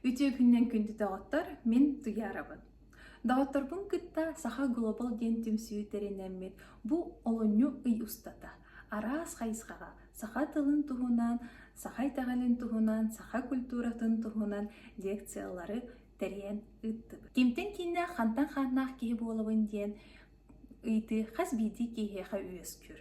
Үтүө күннэн күндү доҕоттор, мин Туйаарабын. Доҕотторбун кытта Саха Глобал диэн түмсүү тэринэммит бу олунньу ый устата араас хайысхаҕа саха тылын туһунан, саха итэҕэлин туһунан, саха культуратын туһунан лекциялары тэрийэн ыыттыбыт. Кимтэн кииннээх, хантан хааннаах киһи буолабын диэн ыйытыы хас биирдии киһиэхэ үөскүүр.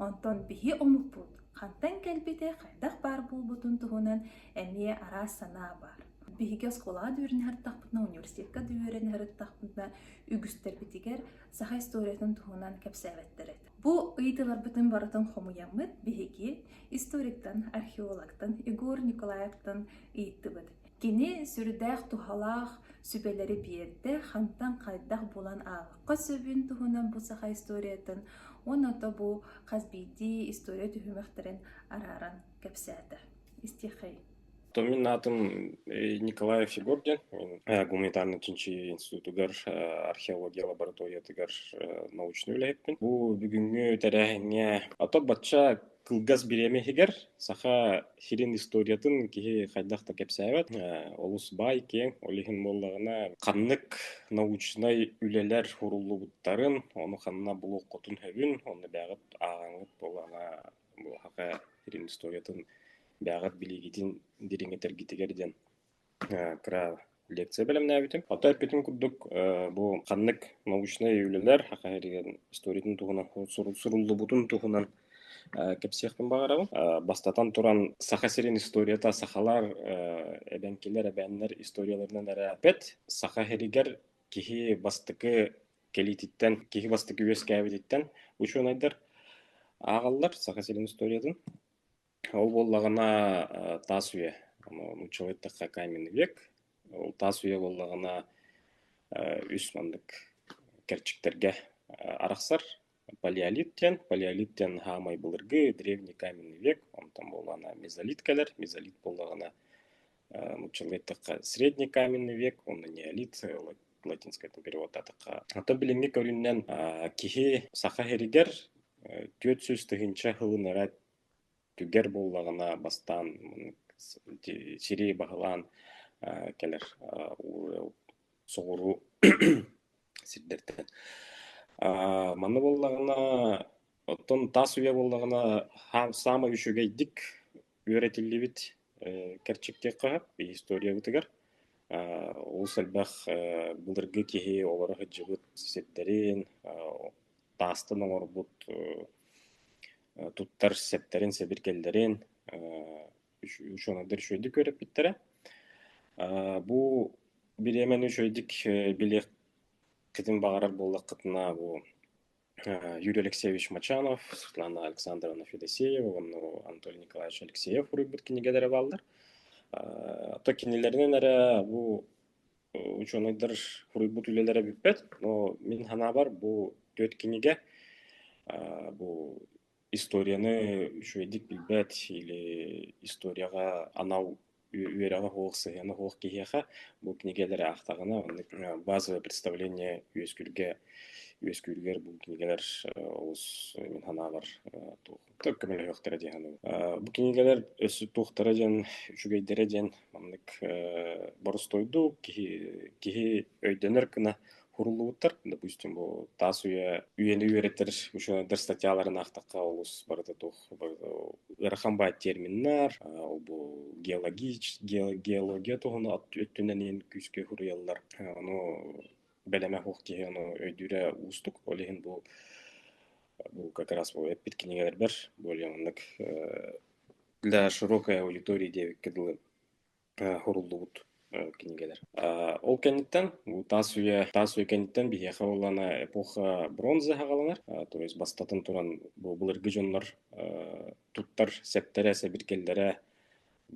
Онтон биһи омукпут хантан кэлбитэ, хайдах баар буолбутун туһунан эмиэ араас санаа баар. Биһиги оскуолаҕа үөрэнэ сырыттахпытына, университекка үөрэнэ сырыттахпытына, үгүстэрбитигэр саха историятын туһунан кэпсээбэттэр этэ. Бу ыйытыыларбытын барытын хомуйаммыт биһиги историктан, археологтан Егор Николаевтан ыйыттыбыт. Кини сүрдээх туһалаах сүбэлэри биэрдэ, хантан хайдах булан аахха сөбүн туһунан бу саха историятын уонна ото бу хас биирдии история түһүмэхтэрин арааран кэпсээтэ. Истиэхэй. То мин аатым э, Николай Фигурдин. Э, гуманитарнай-чинчий институтугар э, археология лабораториятыгар научнай үлэһиппин. Бу бүгүҥҥү тэрээһиҥҥэ ато бачча Кылгас бириэмэ иһигэр Саха сирин историятын киһи хайдах да кэпсээбэт. Э, олус баай, киэҥ. Ол иһин буоллаҕына ханнык научнай үлэлэр суруллубуттарын, ону ханна булуоххутун сөбүн, онно бэйэҕит ааҕаҥыт буоллаҕына буһаха сирин историятын бэйэҕит билиигитин дириҥэтэргитигэр диэн. Э, кыра лекция бэлэмнээбитим. Оттон эппитим курдук, э, бу ханнык научнай үлэлэр хаха эригэн историятын туһунан суру- суруллубутун туһунан э, кэпсиэхпин баҕарабын. Э, бастатан туран, Саха сирин историята сахалар, э, эбэҥкилэр, эбээннэр историяларынан эрэ эппэт. Саха иһигэр киһи бастакы кэлиититтэн, киһи бастакы үөскээбититтэн учуонайдар ааҕаллар Саха сирин историятын. Ол буоллаҕына э, таас үйэ. Ону учугайдык какая мин век. Ол таас үйэ буоллаҕына э, үс маннык кэрчиктэргэ э, арахсар. Палеолит диэн. Палеолит диэн хаамай былыргы древний каменный век. Онтон буоллаҕына мезолит кэлэр. Мезолит буоллаҕына учугайдык средний каменный век. Онно неолит латинскайтан перевод атака. Ата билиҥҥи көрүннэн киһи саха иһэригэр түөрт сүүс тыһыынча Түргэр буоллаҕына бастаан сири баһылаан кэлэр соҕуруу сирдэртэн. Манна буоллаҕына оттон таас үйэ буоллаҕына саамай үчүгэйдик үөрэтиллибит кэрчиктиэххэ сөп историябытыгар. Олус элбэх былыргы киһи олоро сылдьыбыт сирдэрин таастан оҥорбут туттар сэптэрин, сэбиргэллэрин учуонайдар үчүгэйдик үөрэппиттэрэ. Бу бириэмэни үчүгэйдик билиэххитин баҕарар буоллаххытына бу Юрий Алексеевич Мачанов, Светлана Александровна Федосеева уонна Анатолий Николаевич Алексеев суруйбут кинигэлэрэ бааллар. То кинилэринэн эрэ бу учуонайдар суруйбут үлэлэрэ бүппэт, но мин санаабар бу түөрт кинигэ бу историяны үчүгэйдик билбэт или историяҕа анал үөрэҕэ суох сыһыана суох киһиэхэ бу кинигэлэри аахтаҕына оннук базовое представление үөскүүргэ үөскүүрүгэр бу кинигэлэр олус мин санаабар туох Как көмөлөһүөхтэрэ дии саныыбын. Э, бу кинигэлэр өссө туохтара диэн, үчүгэйдэрэ диэн маннык э, боростуойду киһи, киһи өйдөнөр гына хуруллубуттар. Допустим, бу таас үйэ үйэни үөрэттэр ученодар статьяларын аахтахха олус барыта туох барыта ыарахан баай терминнар, э, бу геологич, геология туһуну өттүнэн күүскэ хуруйаллар. Ону бэлэмэ суох киһи ону өйдүүрэ уустук. Ол иһин бу бу как раз бу эппит кинигэлэрбэр более маннык для широкой аудитории диэбиккэ дылы суруллубут кинигэлэр. Ол кэнниттэн бу таас үйэ таас үйэ кэнниттэн биһиэхэ буоллана эпоха бронза хагаланар. То есть бастатан туран бу былыргы дьоннор туттар сэптэрэ, сэбиргэллэрэ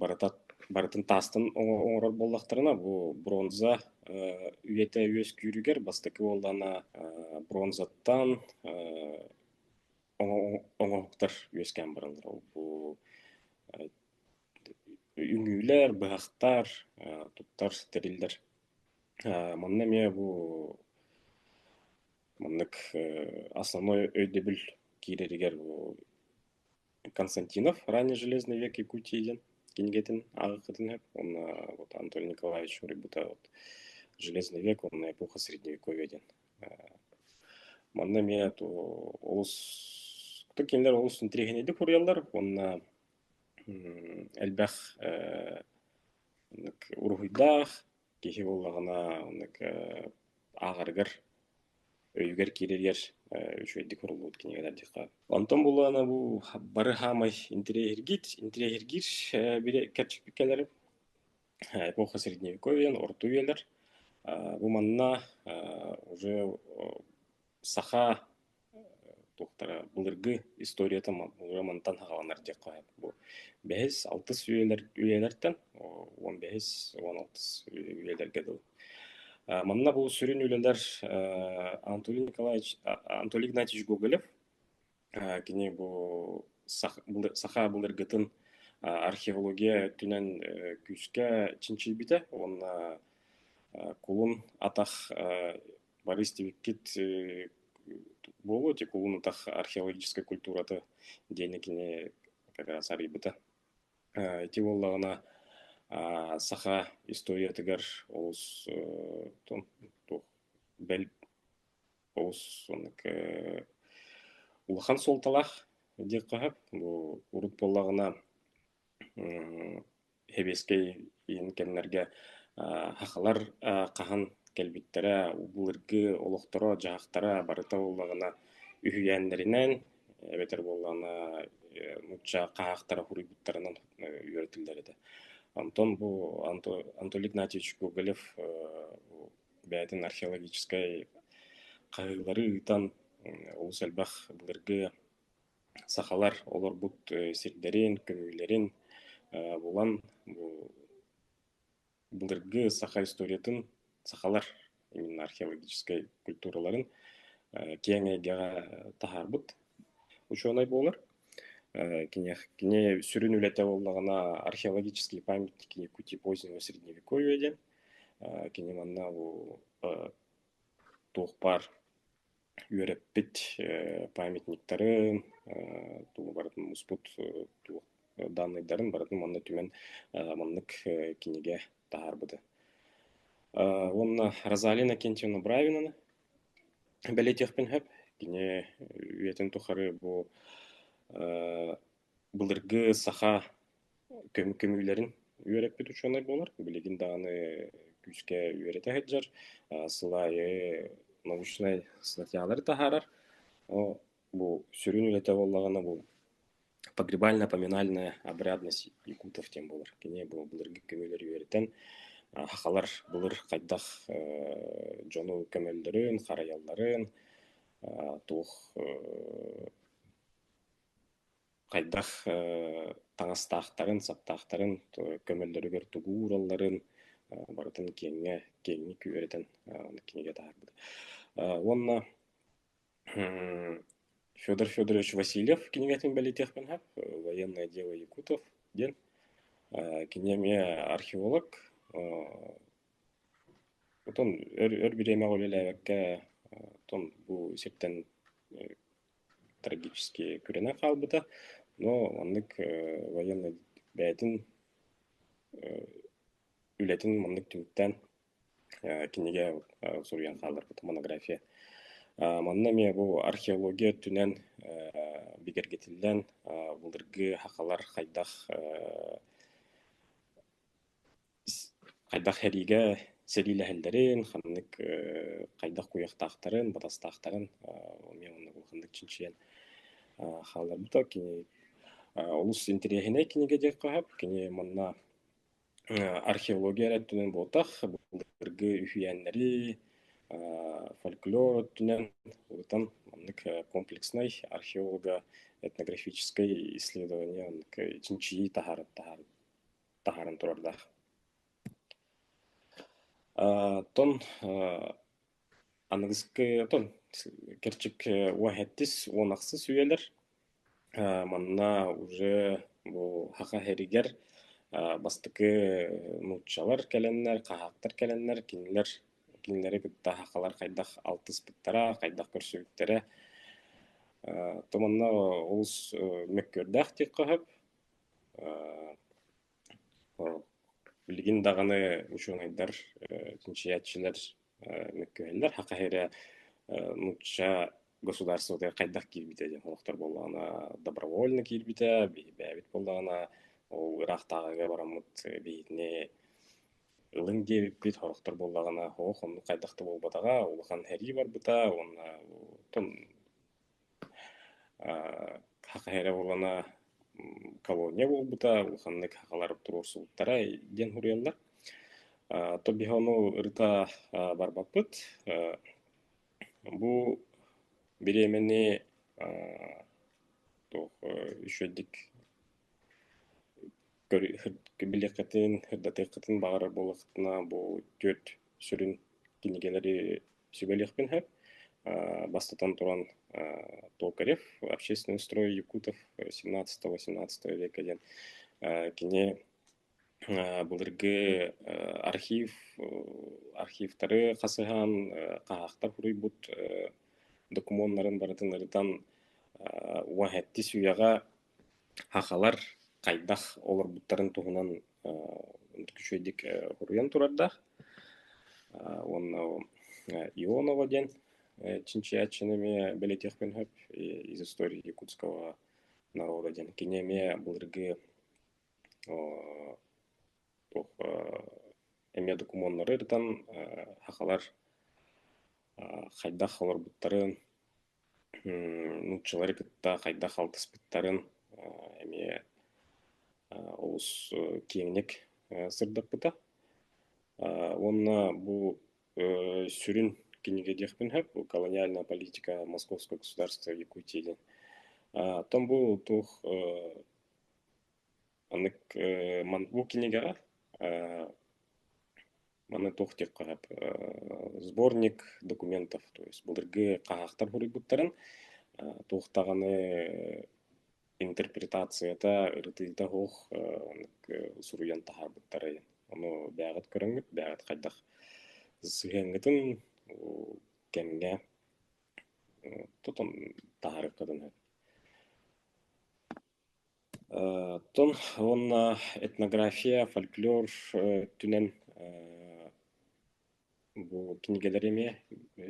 барыта барытын таастан оҥорор буоллахтарына бу бронза үйэтэ үөскүүрүгэр бастакы буоллаҕына бронзаттан оҥоһуктар үөскээн бараллара бу үҥүүлэр быһахтар туттар тэриллэр манна эмиэ бу маннык основной өйдөбүл киирэригэр Константинов ранний Железный век Якутии диэн кинигэтин ааҕыккытын сөп уонна вот Анатолий Николаевич суруйбута вот Железный век уонна эпоха средневековья диэн манна эмиэ олус ытык кинилэр олус интэриэһинэйдик уруйаллар уонна элбэх уруһуйдаах киһи буоллаҕына оннук э, ааҕарыгар өйүгэр киирэригэр э, үчүгэйдик суруллубут кинигэ тардыахха. Онтон булаана бу бары хаамай интириэһиргиир, интириэһиргиир э, бирэ кэрчикпит кэлэр эпоха средневековьен, орта үйэлэр. Бу манна уже Саха туохтара былыргы историята мантан саҕаланар диэххэ сөп. Бу бэһис алтыс үйэлэр үйэлэртэн уон бэһис уон алтыс үйэлэргэ дылы. Манна бу сүрүн үлэлэр Анатолий Николаевич Анатолий Игнатьевич Гоголев Кини бу саха былыргытын археология өттүнэн күүскэ чинчийбитэ уонна кулун атах бары истибиккит буолуо ити кулун атах археологическай культурата диэни кини как раз арыйбыта ити буоллаҕына саха историятыгар олус бэл Оҕус уонна улахан суолталаах диэх хаһап бу урут буоллаҕына Хэбиэскэй иин кэмнэргэ хахалар хаһан кэлбиттэрэ былыргы олохторо дьаһахтара барыта буоллаҕына үһүйээннэринэн эбэтэр буоллаҕына нуучча хаһаахтара суруйбуттарынан үөрэтиллэр этэ. Онтон бу Анатолий Игнатьевич Гоголев бэйэтин археологическай хаһыылары ыытан олус элбэх былыргы сахалар олорбут сирдэрин, көмүүлэрин булан былыргы саха историятын сахалар именно археологическай культураларын киэҥ эйгэҕэ таһаарбыт учуонай буолар. Кини сүрүн үлэтэ буоллаҕына археологический памятник Якутии позднего средневековья диэн Кини манна бу туох баар үөрэппит памятниктарын, тугу барытын муспут туох данныйдарын барытын манна түмэн маннык кинигэ таһаарбыта. Уонна Розалина Кентьевна Бравинаны бэлиэтиэхпин сөп. Кини үйэтин тухары бу Былыргы саха көм- көмүүлэрин үөрэппит учуонай буолар, билигин даҕаны күүскэ үөрэтэ сылдьар, сыл аайы научнай статьялары таһаарар. Ол бу сүрүн үлэтэ буоллаҕына бу погребально-поминальная обрядность якутов диэн буолар. Кини бу былыргы көмүүлэри үөрэтэн сахалар былыр хайдах дьону көмөллөрүн, харайалларын, туох хайдах таҥастаахтарын, саптаахтарын көмөллөрүгэр тугу ууралларын барытын киэҥҥэ киэҥник үөрэтэн кинигэ таһаарбыта. Уонна Федор Федорович Васильев кинигэтин бэлиэтиэхпин сөп. «Военное дело якутов» диэн. Кини эмиэ археолог. Оттон өр өр бириэмэҕэ үлэлээбэккэ оттон бу сиртэн трагически күрэнэ хаалбыта. Но маннык военнай бэйэтин үлэтин маннык түмүктээн кинигэ суруйан хааларбыт монография. Манна эмиэ бу археология өттүнэн бигэргэтиллэн былыргы хахалар хайдах Хайдах эһиигэ сэриилэһэллэрин, ханнык э, хайдах куйахтаахтарын, батастаахтарын э, эмиэ оннук улаханнык чинчийэн э, хаалларбыта. Кини э, олус интэриэһинэй кинигэ диэн хаһап. Кини манна э, археология өттүнэн буолтах, былыргы үһүйээннэри, э, фольклор өттүнэн улутан маннык э, комплекснай археолого-этнографическай исследование оннук э, чинчийии таһаарар таһаарар. таһааран турардаах. Оттон аныгыскытын кэрчик уоһэттис уон ахсыс үйэлэр манна уже бу саха сиригэр бастакы нууччалар кэлэннэр, хаһаактар кэлэннэр кинилэр кинилэри кытта сахалар хайдах алтыспыттара, хайдах көрсүбүттэрэ. То манна олус мөккүөрдээх диэххэ сөп. Билигин даҕаны учуонайдар, чинчийээччилэр мөккүһэллэр. Хахаһирэ нуучча государствотыгар хайдах киирбитэ диэн олохтор буоллаҕына добровольно киирбитэ, биһирбээбит буоллаҕына ол ыраахтааҕыга бараммыт биһигини ылыҥ диэбиппит олохтор буоллаҕына оһох оннук хайдах да буолбатаҕа улахан эрии барбыта уонна оттон Хахыһа эрэ буоллана колония буолбута улаханнык хахалар туруорсубуттара диэн суруйаллар. То биһи ону ырыта барбаппыт. Бу бириэмэни туох үчүгэйдик билиэххитин, ырдатыаххытын баҕарар буоллаххытына бу түөрт сүрүн кинигэлэри сүбэлиэхпин сөп. Бастатан туран, Толкарев «Общественный строй Якутов 17-18 века» диэн кини былыргы архив архивтары хасыһаан хаһаахтар суруйбут докумуоннарын барытын ырытан уоһэттис үйэҕэ Хахалар хайдах олорбуттарын туһунан үчүгэйдик суруйан турардаах уонна Ионова диэн чинчийээччини эмиэ бэлэтиэхпин сөп из истории якутского народа диэн кини эмиэ былыргы эмиэ докумуоннары ырытан хахалар хайдах олорбуттарын нууччалары кытта хайдах алтыспыттарын эмиэ олус киэҥник сырдаппыта уонна бу сүрүн кинигэ диэхпин сөп колониальная политика московского государства якутии диэн оттон бу туох Оннук э, ман бу кинигэҕэ э, маны туох диэххэ сөп э, сборник документов, то есть былыргы хаһаахтар хоруйбуттарын э, туох даҕаны интерпретацията, ырытыыта суох суруйан таһаарбыттара Ону бэҕэт көрөҥҥүт, бэҕэт хайдах сыһыаҥҥытын кэмҥэ тутан таһаарыаххытын сөп. Оттон уонна этнография, фольклор өттүнэн бу кинигэлэри эмиэ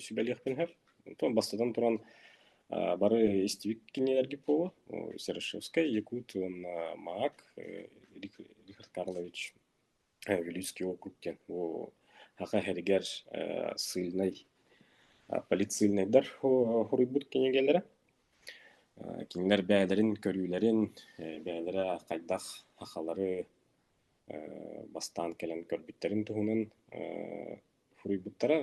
сүбэлиэхпин сөп. Бастатан туран, бары истибит кинигэлэргит буолуо: Серышевскай, Якут уонна Маак, Рих Рих Аркадьевич. Вилюйский округ диэн бу Аха иһэригэр ссыльнай полицийнайдар хоруйбут кинигэлэрэ. Кинилэр бэйэлэрин көрүүлэрин, бэйэлэрэ хайдах Ахалары бастаан кэлэн көрбүттэрин туһунан хоруйбуттара.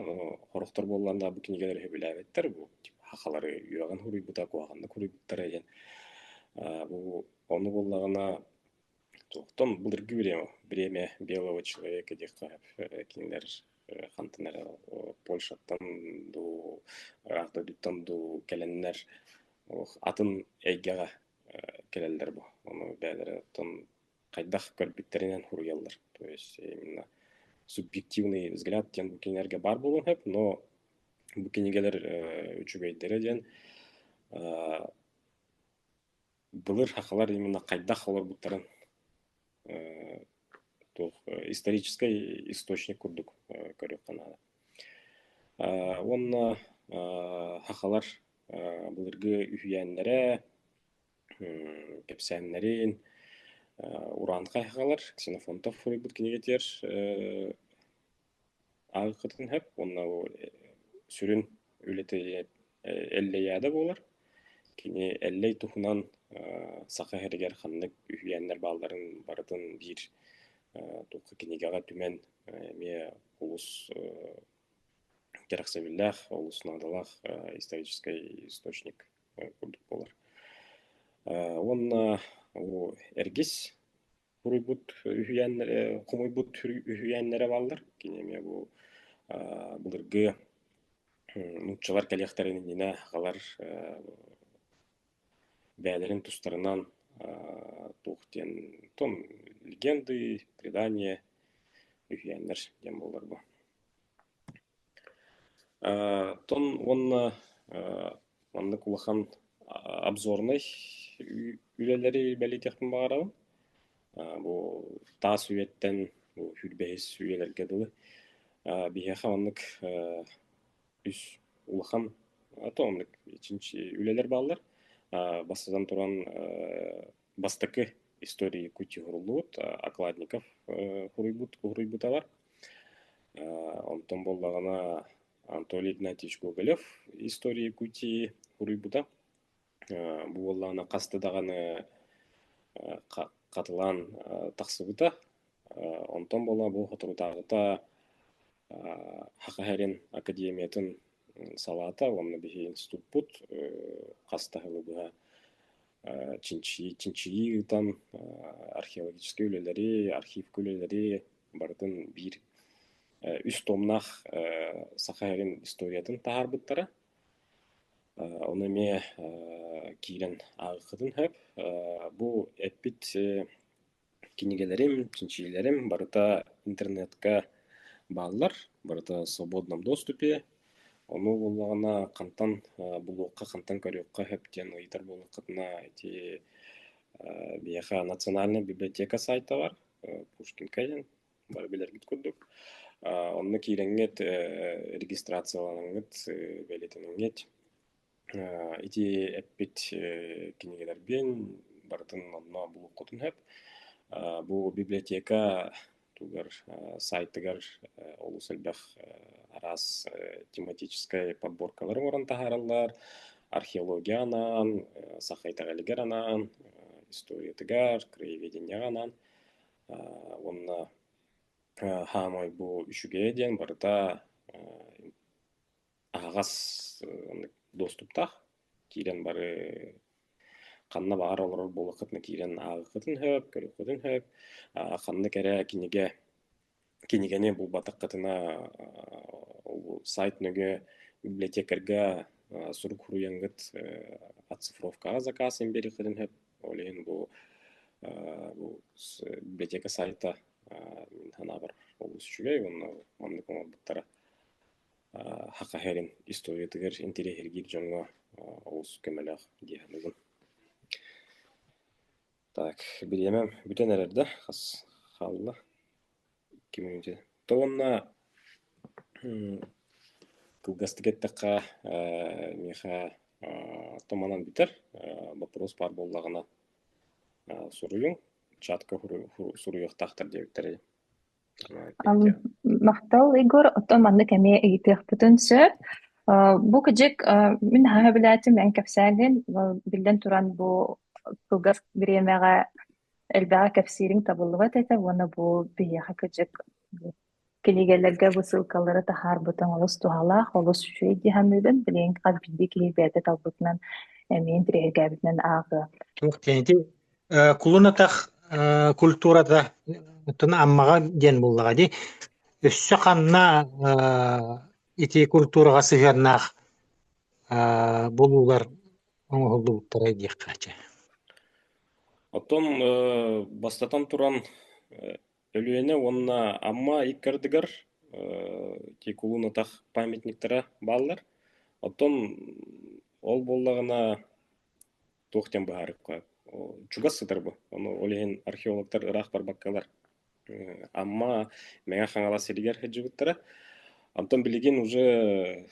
Хорохтор буоллан да бу кинигэлэри сөбүлээбэттэр. Бу Ахалары үөҕэн хоруйбута, куһаҕаннык хоруйбуттара диэн. Бу ону буоллаҕына Туохтан былыргы бириэмэ бириэмэ белого человека диэххэ кинилэр хантан эрэ Польшаттан дуу араак дойдуттан дуу кэлэннэр атын эйгэҕэ кэлэллэр бу. Ону бэйэлэриттэн хайдах көрбүттэринэн суруйаллар. То есть именно субъективный взгляд диэн бу кинилэргэ баар буолуон сөп, но бу кинигэлэр үчүгэйдэрэ диэн былыр сахалар именно хайдах олорбуттарын э, туох историческай источник курдук көрүөххэ наада. Уонна сахалар былыргы үһүйээннэрэ, кэпсээннэрин, Уран хайхалар, Ксенофонтов суруйбут кинигэтигэр Аҕыкытын сөп уонна бу сүрүн үлэтэ Эллэйаада буолар. Кини Эллэй туһунан Саха сиригэр ханнык үһүйээннэр баалларын барытын биир туохха кинигэҕэ түмэн эмиэ олус кэрэхсэбиллээх, олус наадалаах историческай источник курдук буолар. Уонна бу Эргис Суруйбут үһүйээннэрэ, хомуйбут үһүйээннэрэ бааллар. Кини эмиэ бу аа былыргы нууччалар кэлиэхтэрин иннинэ аҕалар бэйэлэрин тустарынан аа туох диэн легенды, предания, үһүйээннэр диэн буолар бу. Тон уонна маннык улахан обзорнай үлэлэри бэлиэтиэхпин баҕарабын. Бу таас үйэттэн бу сүүрбэһис үйэлэргэ дылы биһиэхэ маннык үс улахан үлэлэр бааллар. Бастатан туран бастакы история Якутии уруллубут Окладников уруйбут уруйбуталар. Онтон буоллаҕына Анатолий Игнатьевич Гоголев история Якутии уруйбута. Бу буоллаҕына хаста даҕаны хатылаан тахсыбыта. Онтон буола бу соторутааҕыта Хахаһерин академиятын салаата уонна биһи институппут хас таһылы быһа чинчийии чинчийии ыытан археологическай үлэлэри архивка үлэлэри барытын биир үс томнаах саха эрин историятын таһаарбыттара ону эмиэ киирэн ааҕыаххытын сөп бу эппит Кинигэлэрим, чинчийиилэрим барыта интернетка бааллар, барыта в свободном доступе. Ону буоллаҕына хантан булуохха, хантан көрүөххэ сөп диэн ыйытар буоллаххытына ити биһиэхэ национальнай библиотека саайтабар Пушкинка диэн бары билэргит курдук. Онно киирэҥҥит, регистрацияланыҥҥыт, бэлиэтэниҥҥит Ити эппит кинигэлэрбин барытын онно булуоххутун сөп. Бу библиотека тугар сайтыгар олус элбэх араас тематическай подборкалары оҥорон таһаараллар. Археология анаан, саха итэҕэлигэр анаан, историятыгар, краеведенияҕа анаан уонна хаамай бу үчүгэйэ диэн барыта аһаҕас оннук доступтаах. Киирэн бары ханна баҕар олорор буоллаххытына киирэн ааҕыххытын сөп, көрүххүтүн сөп. А ханна кэрэ кинигэ кинигэни булбатаххытына сайт нөҥүө библиотекарьга сурук суруйаҥҥыт оцифровкаҕа закасын биэриэххитин сөп. Ол иһин бу бу библиотека сайта мин санаабар олус үчүгэй уонна маннык оҥорбуттара Саха иһирин историятыгар интириэһиргиир дьоҥҥо олус көмөлөөх дии саныыбын. Так, бириэмэм бүтэн эрэр да, хас хаалла? Икки мүнүүтэ. То уонна кылгастык эттэххэ, миэхэ томанан бүтэр. Боппуруос баар буоллаҕына суруйуҥ, чатка суруйуохтаахтар диэбиттэрэ. Махтал, Егор. Оттон маннык эмиэ ыйытыахпытын сөп. Бу кыдьык мин наһаа сөбүлээтим, эн кэпсээнин. Биллэн туран, бу кылгас бириэмэҕэ элбэҕи кэпсиириҥ табыллыбат этэ уонна бу биһиэхэ кыдьык кинигэлэргэ бу ссылкалары таһаарбытыҥ олус туһалаах, олус үчүгэй дии саныыбын. Билигин хас биирдии киһи бэйэтэ талбытынан эмиэ интириэһиргээбитинэн ааҕыа. Туох кэнити Э, кулун атах э, культурата оттон Аммаҕа диэн буллаҕа дии. Өссө ханна э, ити культураҕа сыһыаннаах э, булуулар оҥоһуллубуттара диэххэ чэ. Оттон э, бастатан туран э, Өлүөнэ уонна Амма иккардыгар э, ити кулун атах памятниктара бааллар. Оттон ол буоллаҕына туох диэн быһаарыкка чугас сытарбы ону ол иһин археологтар ыраах барбаккалар Амма Мэҥэ Хаҥалас сиригэр сылдьыбыттара Онтон билигин уже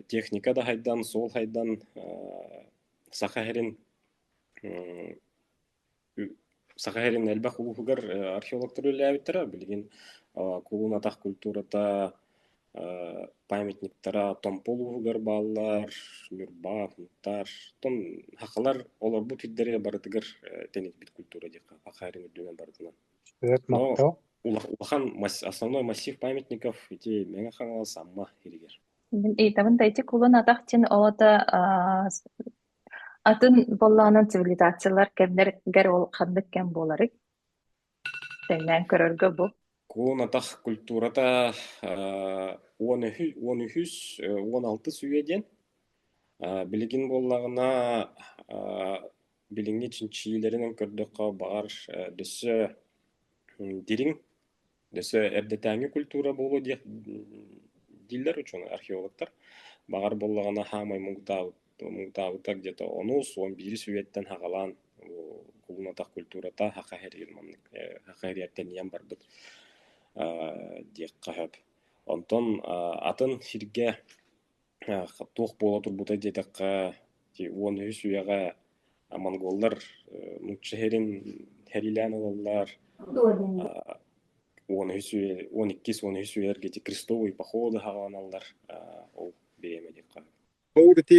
техника да хайдан, суол хайдан Саха сирин Саха иһирин элбэх улууһугар археологтар үлэлээбиттэрэ. Билигин кулуун-атах культурата, памятниктара Томпо улууһугар бааллар, Ньурба, Муктаар. Оттон сахалар олорбут сирдэрэ барытыгар тэнитбит культура диэххэ Саха иһирин үрдүнэн барытынан. Сөп, Но махтал. улахан основной массив памятников ити Мэҥэ Хаҥалас Амма иһигэр. Мин ыйытабын да ити кулун атах тин оҕото Атын буоллаҕынан цивилизациялар кэмнэргэр ол ханнык кэм буоларый? Тэҥнээн көрөргө бу. Куонатах культурата э, он үһүс, он үһүс, э, он алтыс үйэ диэн. Э, билигин буоллаҕына э, билиҥҥи чинчийиилэринэн көрдөххө, баҕар э, дөссө м, дириҥ, Өссө эрдэтээҥи культура буолуо диэх дииллэр учуонай археологтар. Баҕар буоллаҕына хаамай муҥутаабыт муҥутаабыта где-то онус уон биир сүбэттэн хаҕалаан кулунатах культурата хаха иһэригин маннык хаха иһэртэн ийэн барбыт диэххэ сөп. Онтон атын сиргэ туох буола турбутай диэтэххэ уон үһүс үйэҕэ монголлар нуучча иһэрин сэриилээн ылаллар уон үһүс үйэ уон иккис уон үһүс үйэлэргэ ити крестовые походы саҕаланаллар ол бэйэм эдиэххэ ол ити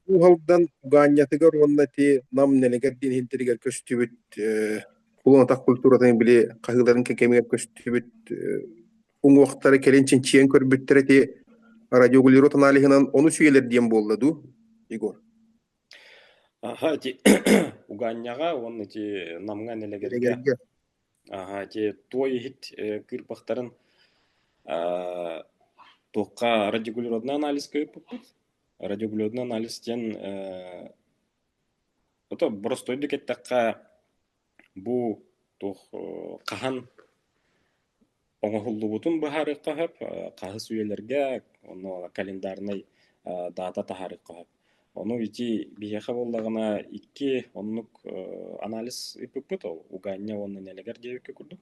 Кууһалдан Угаанньатыгар уонна ити Нам Нэлэгэр диэн иһинтэригэр көстүбүт кулуонатах культуратын били хаһыыларын кэмигэр көстүбүт уҥуохтара кэлин чинчийэн көрбүттэр ити радиорегулирует аналиһынан ону сүүйэлэр диэн буолла дуу Егор Аха, ити угаанньаҕа уонна ити намҥа нэлэгэргэ аха ити туой иһит кыырпахтарын туохха радиорегулируотный анализ көрүппүппүт радиорегулируотный анализ диэн ото боростойду кэттэххэ Бу туох хаһан оҥоһуллубутун быһаарыахха сөп, хаһыс үйэлэргэ онно календарнай даата таһаарыахха сөп. Ону ити биһиэхэ буоллаҕына икки оннук анализ ыыппыппыт, ол Угаанньа уонна Нэлэгэр диэбиккэ курдук.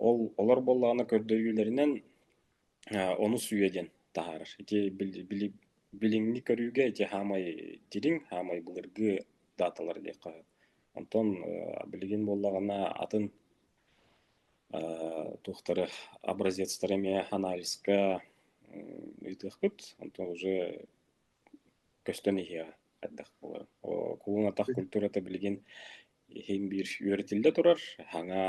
Ол олор буоллаҕына көрдөһүүлэринэн Онус үйэ диэн таһаарар. Ити билиҥҥи көрүүгэ ити хаамай дириҥ, хаамай былыргы дааталар диэххэ. Онтон билигин буоллаҕына атын туохтары образецтары эмиэ анализка ыытыахпыт. Онтон уже көстөн иһиэҕэ хайдах буоларын. Кулун атах культурата билигин иһин биир үөрэтиллэ турар, саҥа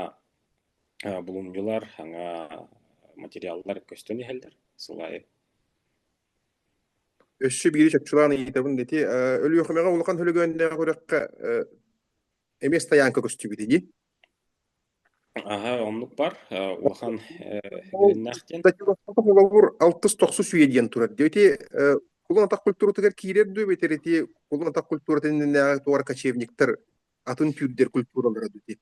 Булумньулар саҥа материаллар көстөн иһэллэр сыл аайы. Өссө биири чопчулаан ыйытабын ити Өлүөхүмэҕэ улахан Өлөгөөннөөх күрэххэ эмиэ стоянка көстүбүт дии. Аһа, оннук бар. Улахан үөрэннээх диэн. Холобур, алтыс-тохсус үйэ диэн турар. Ити Кулун атах культуратыгар киирэр дуу, битэр ити Кулун атах культуратын иннинээҕи туора кочевниктар атын түүрдэр культуралара дути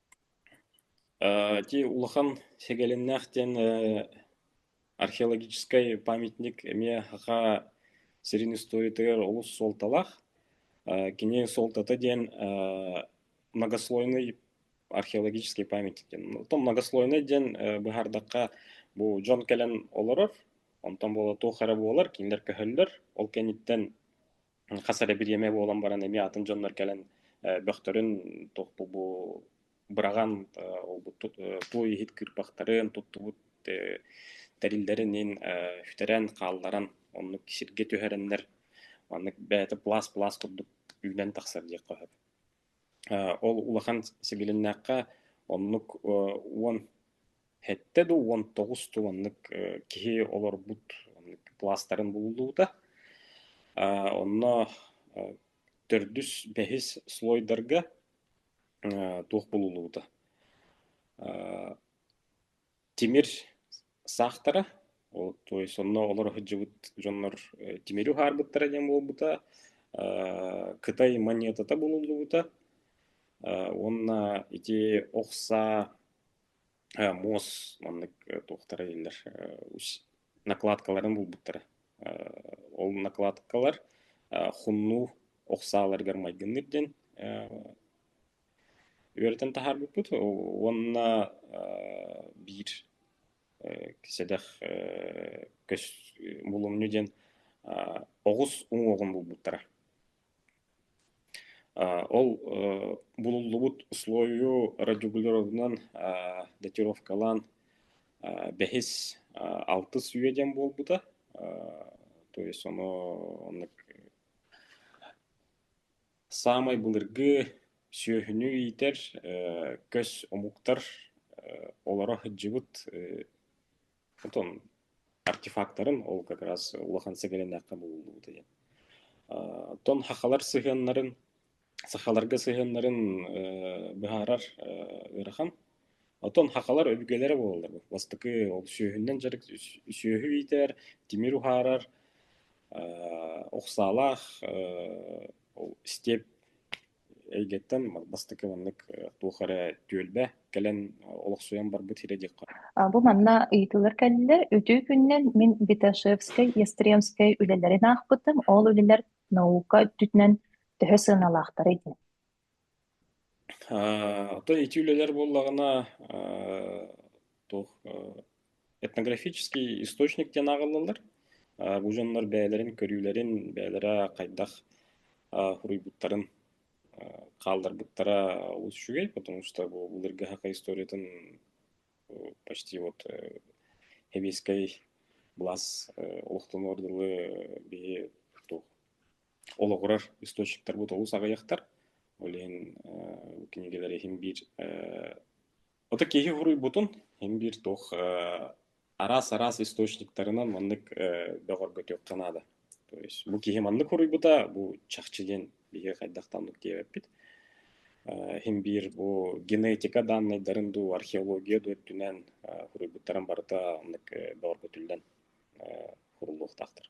ти улахан сегалиннаах диэн археологическай памятник эмиэ хаха сирин историятыгар олус суолталаах кини суолтата диэн многослойный археологический памятник диэн оттон многослойный диэн быһаардахха бу дьон кэлэн олорор онтон буола туох эрэ буолар кинилэр көһөллөр ол кэнниттэн хас эрэ бириэмэ буолан баран эмиэ атын дьоннор кэлэн бөхтөрүн бу быраҕан ылбыт туу иһит кыырпахтарын туттубут тэриллэрин иһин үтэрэн хаалларан оннук сиргэ түһэрэннэр маннык бэйэтэ пласт пласт курдук үүнэн тахсар диэххэ сөп Ол улахан сибилиннээххэ оннук уон сэттэ да уон тоҕус да уоннук киһи олорбут пластарын булуллубута. Онно төрдүс, бэһис слойдарга туох булуллубута Тимир саахтара, ол туой сонно олоро сылдьыбыт дьоннор тимири уһаарбыттара диэн буолбута, кытай монетата булуллубута уонна ити охса муос маннык туохтара дииллэр накладкаларын булбуттара. Ол накладкалар хуннуу охсааларыгар майгынныыр диэн Үөрэтэн таһаарбыппыт уонна биир сэдэх көс булумньу диэн оҕус уҥуоҕун булбуттара. Ол булуллубут условию радиогулярынан датировкалаан бэһис алтыс үйэ диэн буолбута. То есть оно оннук Саамай былыргы сүөһүнү иитэр көс омуктар олоро сылдьыбыт отон артефактарын ол как раз улахан сэгэлэнээххэ булуллубута диэн. Оттон сахалар сыһыаннарын, сахаларга сыһыаннарын быһаарар ыарахан. Оттон хахалар өбүгэлэрэ буолаллар. Бастакы ол сүөһүнэн дьарык сүөһү иитэр, тимир уһаарар, аа уксаалаах степ эйгэттэн бастакы маннык туох эрэ түөлбэ кэлэн олохсуйан барбыт сирэ диэххэ. Бу манна ыйытыылар кэллилэр. Үтүө күнүнэн мин Виташевскай, Ястребскай үлэлэрин аахпытым. Ол үлэлэр наука өттүнэн төһө сыаналаахтарый диэн. Отой ити үлэлэр буоллаҕына туох этнографический источник диэн ааҕыллаллар. Бу дьоннор бэйэлэрин көрүүлэрин, бэйэлэрэ хайдах суруйбуттарын хаалларбыттара олус үчүгэй, потому что бу былыргыһака историятын почти вот сэбиэскэй былаас олохтонор дылы биһи туох олоҕурар источниктарбыт олус аҕыйахтар. Ол иһин кинигэлэри иһин биир аты киһи хоруйбутун иһин биир туох араас-араас источниктарынан маннык бөҕөргөтүөххэ наада. То есть бу киһи маннык хоруйбута, бу чахчы диэн биһиги хайдахтан оннук диэбиппит. Иһин биир бу генетика данныйдарын дуу, археология дуу өттүнэн хоруйбуттарын барыта оннук бөҕөргөтүллэн хуруллуохтаахтар.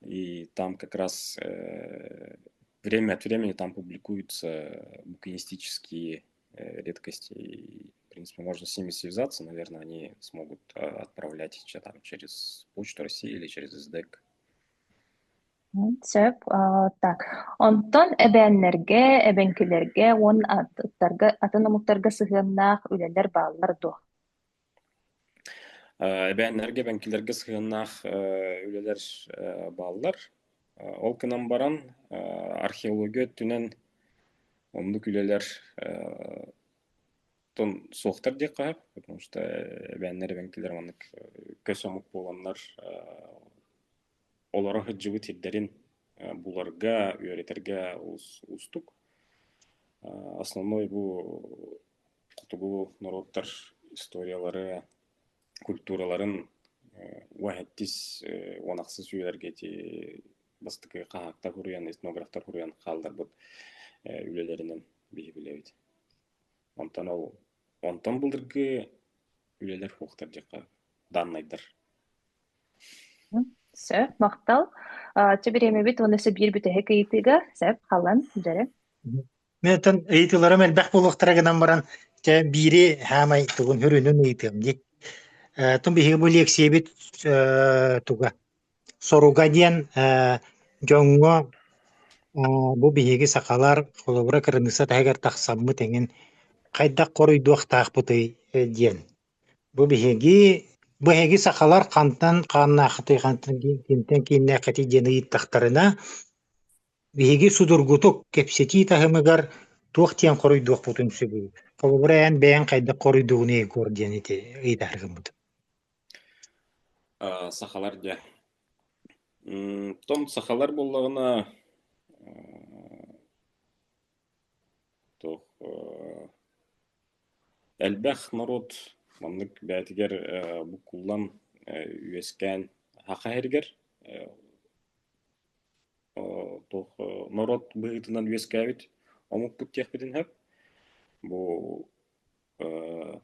И там как раз э, время от времени там публикуются букинистические э, редкости. И, в принципе, можно с ними связаться. Наверное, они смогут э, отправлять что там через Почту России или через СДЭК. Сөп. Так, онтон эбээннэргэ, эбэҥкилэргэ уон аттарга, атын омуктарга сыһыаннаах үлэлэр бааллар дуо? Э, эбээннэргэ, эбэҥкилэргэ сыһыаннаах э, үлэлэр э, бааллар. Ол гынан баран археология өттүнэн оннук үлэлэр суохтар диэххэ сөп, потому что эбээннэр, эбэҥкилэр маннык көс омук буоланнар олоро сылдьыбыт сирдэрин буларга, үөрэтэргэ уустук. Основной бу Хотугу норуоттар историялары, культураларын уэһэттис уон ахсыс үйэлэргэ ити бастакы хаһаактар суруйан, этнографтар суруйан хаалларбыт үлэлэринэн биһи билэбит. Онтон ол онтон былыргы үлэлэр суохтар дьиэхэ дааннайдар Сөп, махтал. Чэ, бириэмэбит уонна сэ биир бүтэһик ыйытыыга сөп, халан, дьэрэ. Мэтэн ыйытыыларым элбэх буолуохтара гынан баран, чэ биири саамай тугун хүрүнүн ыйытыам дии. Э, тун биһиги бу лиэксийэбит э, туга? Соруга диэн э, дьоҥҥо э, бу биһиги сахалар холобура кырыныысса таһыгар тахсаммыт эҥин хайдах хоруйдуохтаахпытый э, диэн. Бу биһиги бу эһиги сахалар хантан хааннааххытый, хантан ким- кимтэн кииннээххитий диэн ыйыттахтарына, Биһиги судургутук кэпсэтии таһымыгар туох диэн хоруйдуохпутун сөбүй? Холобура, эн бэйэҥ хайдах хоруйдуугун Егор диэн ити ыйытаары гыммытым. Э, сахалар дьэ. М, Потом сахалар буоллаҕына э, то э, элбэх норуот маннык бэйэтигэр э, буккуллан э, үөскээн Саха иһэригэр э, Э, туох э, норуот быһыытынан үөскээбит омукпут диэхпитин сөп. Бу э,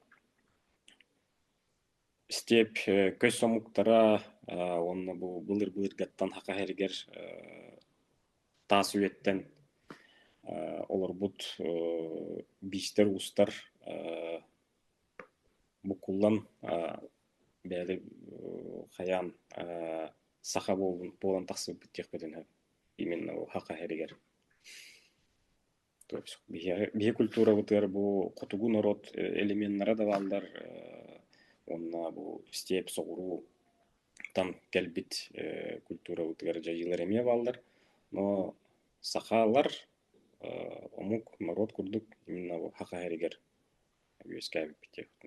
степь э, көс омуктара э, уонна бу былыр былыргаттан хака эргер э, таас үйэттэн э, олорбут э, биистэр уустар э, букуллан э, бээли э, хайаан э, саха буолбут буолан тахсыбыппыт диэхпитин сөп именно бу саха сиригэр то есть биһиэхэ биһиэ культурабытыгар бу хотугу норуот элеменнара да бааллар уонна бу степь соҕуруу там кэлбит культурабытыгар дьайыылар эмиэ бааллар но сахалар омук норуот курдук именно бу саха сиригэр үөскээбиппит диэхпитин